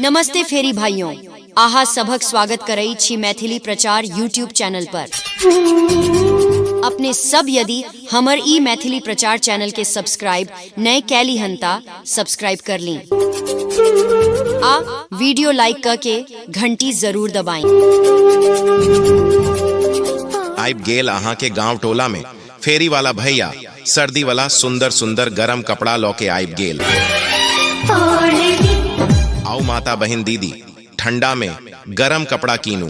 नमस्ते फेरी भाइयों आहा सभक स्वागत करई छी मैथिली प्रचार यूट्यूब चैनल पर अपने सब यदि हमर ई मैथिली प्रचार चैनल के सब्सक्राइब नए कैली हंता सब्सक्राइब कर ली आ वीडियो लाइक करके घंटी जरूर दबाएं आबि गेल अहाँके गांव टोला में फेरी वाला भैया सर्दी वाला सुंदर सुंदर गरम कपड़ा लौ के आयब गेल आओ माता बहन दीदी ठंडा में गरम कपड़ा कीनू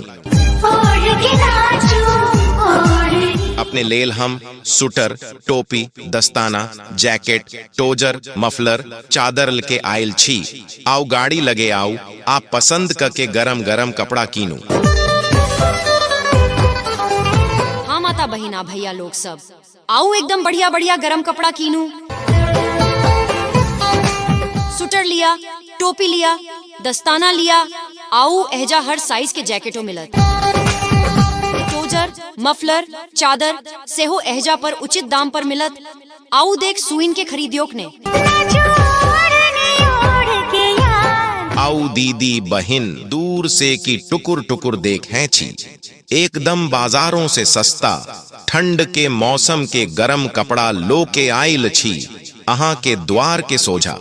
अपने लेल हम सुटर टोपी दस्ताना जैकेट टोजर मफलर चादर लके आयल छी आओ गाड़ी लगे आओ आ पसंद क के गरम गरम कपड़ा कीनू हाँ माता बहिना भैया लोग सब आओ एकदम बढ़िया बढ़िया गरम कपड़ा कीनू स्वेटर लिया टोपी लिया दस्ताना लिया आओ एहजा हर साइज के जैकेटो मिलत टोजर मफलर चादर सेहो एहजा पर उचित दाम पर मिलत आऊ देख सुइन के खरीदियोक ने आऊ दीदी बहिन दूर से की टुकुर टुकुर देखें छी एकदम बाजारों से सस्ता ठंड के मौसम के गरम कपड़ा लो के आयल छी अहाँ के द्वार के सोझा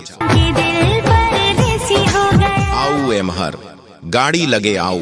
आऊ एमहर गाड़ी लगे आऊ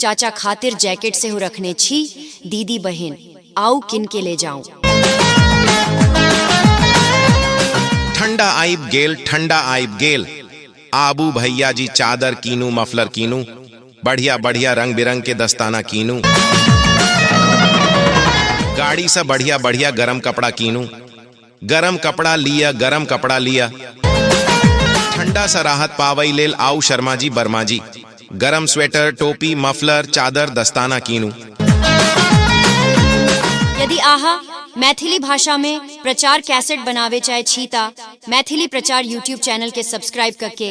चाचा खातिर जैकेट से हो रखने छी दीदी बहन आऊ किन के ले जाऊं ठंडा आइब गेल ठंडा आइब गेल आबू भैया जी चादर कीनू मफलर कीनू बढ़िया बढ़िया रंग बिरंग के दस्ताना कीनू गाड़ी से बढ़िया बढ़िया गरम कपड़ा कीनू गरम कपड़ा लिया गरम कपड़ा लिया ठंडा सा राहत पावई लेल आऊ शर्मा जी बर्मा जी गरम स्वेटर टोपी मफलर चादर दस्ताना कीनू यदि आहा मैथिली भाषा में प्रचार कैसेट बनावे चाहे छीता मैथिली प्रचार यूट्यूब चैनल के सब्सक्राइब करके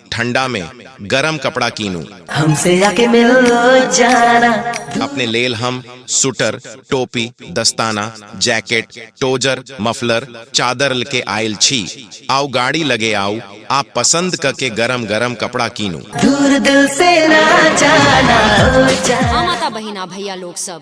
ठंडा में गरम कपड़ा कीनू हमसे आके मिल लो जाना अपने लेल हम सुटर टोपी दस्ताना जैकेट टोजर मफलर चादर लके आयल छी आओ गाड़ी लगे आओ आप पसंद करके गरम गरम कपड़ा कीनू दूर दिल से ना जाना हो जाना हाँ माता बहिना भैया लोग सब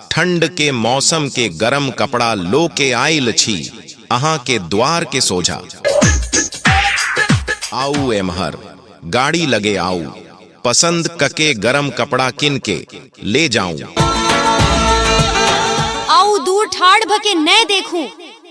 ठंड के मौसम के गरम कपड़ा लो के आइल छी अहा के द्वार के सोझा आउ एमहर गाड़ी लगे आउ पसंद कके गरम कपड़ा किन के ले जाऊं आउ दूर ठाड़ भके नय देखू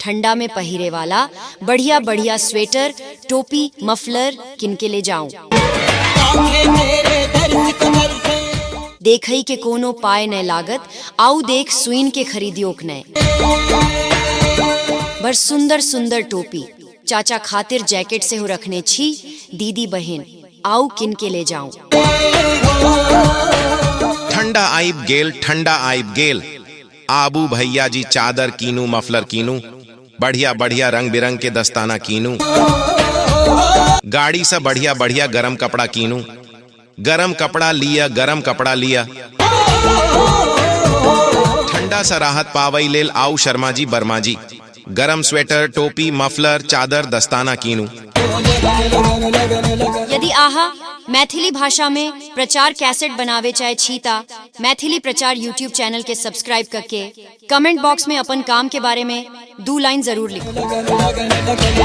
ठंडा में पहिरे वाला बढ़िया बढ़िया स्वेटर टोपी मफलर किन के ले जाऊं कांधे मेरे दर्द कमर से देखई के कोनो पाए न लागत आउ देख सुइन के खरीदियो नय बर सुंदर सुंदर टोपी चाचा खातिर जैकेट से हो रखने छी दीदी बहन आउ किन के ले जाऊं ठंडा आइब गेल ठंडा आइब गेल आबू भैया जी चादर कीनू मफलर कीनू बढ़िया बढ़िया रंग बिरंग के दस्ताना कीनू गाड़ी से बढ़िया बढ़िया गरम कपड़ा कीनू गरम कपड़ा लिया गरम कपड़ा लिया ठंडा सा राहत पावई लेल आऊ शर्मा जी बर्मा जी गरम स्वेटर टोपी मफलर चादर दस्ताना कीनू यदि आहा मैथिली भाषा में प्रचार कैसेट बनावे चाहे छीता मैथिली प्रचार यूट्यूब चैनल के सब्सक्राइब करके कमेंट बॉक्स में अपन काम के बारे में दो लाइन जरूर लिखो लगी